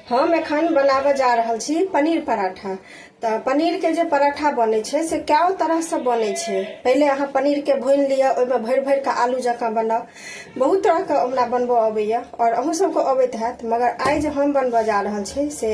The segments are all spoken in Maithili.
हम एखन बनाबऽ जा रहल छी पनीर पराठा तऽ पनीरके जे पराठा बनै छै से कए तरहसँ बनै छै पहिले अहाँ पनीरके भूनि लिअ ओहिमे भरि भरि कऽ आलू जकाँ बनाउ बहुत तरहके हमरा बनबऽ अबैए आओर अहूँ सभके अबैत हैत मगर आइ जे हम बनबऽ जा रहल छी से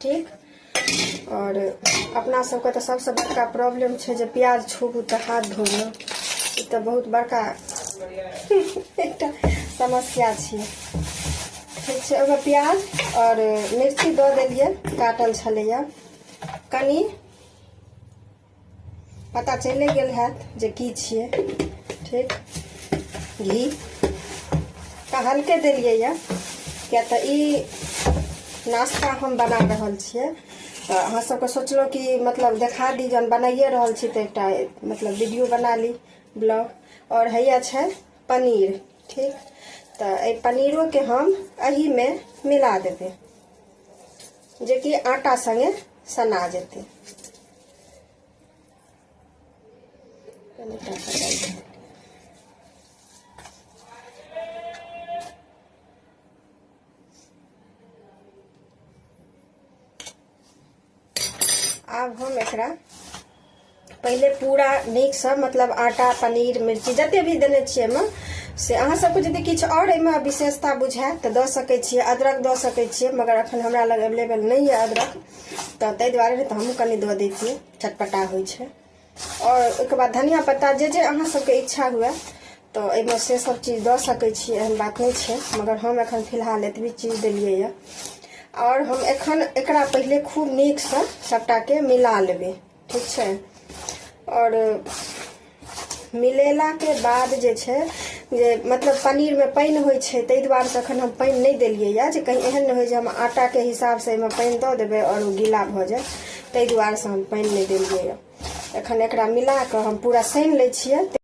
ठीक आओर अपना सबके तऽ सबसँ बड़का प्रॉब्लम छै जे प्याज छूबू तऽ हाथ धोबू ई तऽ बहुत बड़का एकटा समस्या छियै ठीक छै ओहिमे प्याज आओर मिर्ची दऽ देलियै काटल छलैए कनि पता चले गेल हैत जे की छियै ठीक घी तऽ हल्के देलियै यऽ किया तऽ ई नाश्ता हम बना रहल छियै तऽ अहाँ सबके सोचलहुँ कि मतलब देखा दी जहन बनाइए रहल छी तऽ एकटा मतलब वीडियो बना ली ब्लॉग और हैया छै पनीर ठीक तऽ एहि पनीरोके हम एहिमे मिला देबै जेकि आटा सङ्गे सना जेतै आब हम एकरा पहिले पूरा नीकसँ मतलब आटा पनीर मिर्ची जते भी देने छियै एहिमे से अहाँ सबके यदि किछु आओर एहिमे विशेषता बुझायत तऽ दऽ सकैत छियै अदरक दऽ सकैत छियै मगर अखन हमरा लग अवेलेबल नहि यऽ अदरक तऽ ताहि दुआरे तऽ हमहूँ कनि दऽ दै छियै चटपटा होइ छै आओर ओहिके बाद धनिया पत्ता जे जे अहाँ सबके इच्छा हुए तऽ एहिमे से सब चीज दऽ सकै छी एहन बात नहि छै मगर हम एखन फिलहाल एतबी चीज देलियै यऽ आओर हम एखन एकरा पहिले खूब नीकसँ सभटाके मिला लेबै ठीक छै आओर मिलेलाके बाद जे छै जे मतलब पनीरमे पानि होइ छै ताहि दुआरे से एखन हम पानि नहि देलियै यए जे कहीं एहन नहि होइ जे हम आटाके हिसाबसँ एहिमे पानि दऽ देबै आओर ओ गीला भऽ जाय ताहि दुआरे से हम पानि नहि देलियै यए एखन एकरा मिला कऽ हम पूरा सानि लै छियै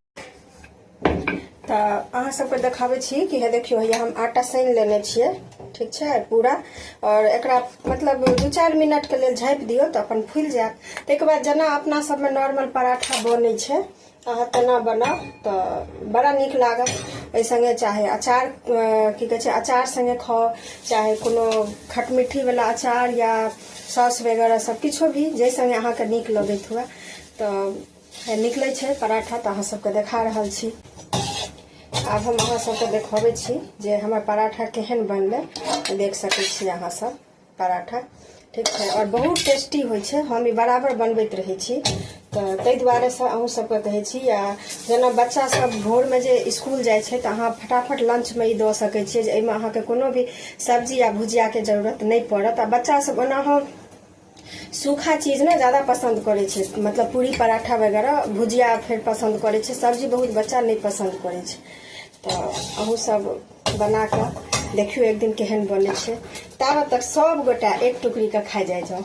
तऽ अहाँ सबके देखाबै छी कि हे देखियौ हैया हम आटा सानि लेने छियै ठीक छै पूरा आओर एकरा मतलब दू चारि मिनटके लेल झाँपि दियौ तऽ अपन फुलि जायत ताहिके बाद जेना अपना सबमे नॉर्मल पराठा बनै छै अहाँ तेना बनाउ तऽ बड़ा नीक लागत एहि सङ्गे चाहे अचार की कहै छै अचार सङ्गे खाउ चाहे कोनो खटमिट्ठीवला अचार या सॉस वगैरह सब किछो भी जाहि सङ्गे अहाँके नीक लगैत हुए तऽ निकलै छै पराठा तऽ अहाँ सबके देखा रहल छी आब हम अहाँ सबके देखबै छी जे हमर पराठा केहन बनलै देख सकै छी अहाँ सब पराठा ठीक छै आओर बहुत टेस्टी होइ छै हम ई बराबर बनबैत रहै छी तऽ ताहि दुआरे से अहूँ सबके कहै छी आ जेना बच्चा सब भोरमे जे स्कूल जाइ छै तऽ अहाँ फटाफट लंचमे ई दऽ सकै छियै जे एहिमे अहाँके कोनो भी सब्जी या भुजियाके जरूरत नहि पड़त आ बच्चा सब ओनाहो सूखा चीज ने ज़्यादा पसंद करे छे मतलब पूरी पराठा वगैरह भुजिया फिर पसंद करे छे सब्जी बहुत बच्चा नहीं पसंद करे छे तो अहू सब बना के देखियो एक दिन केहन बने छे ताब तक सब गोटा एक टुकड़ी के खा जाए जाओ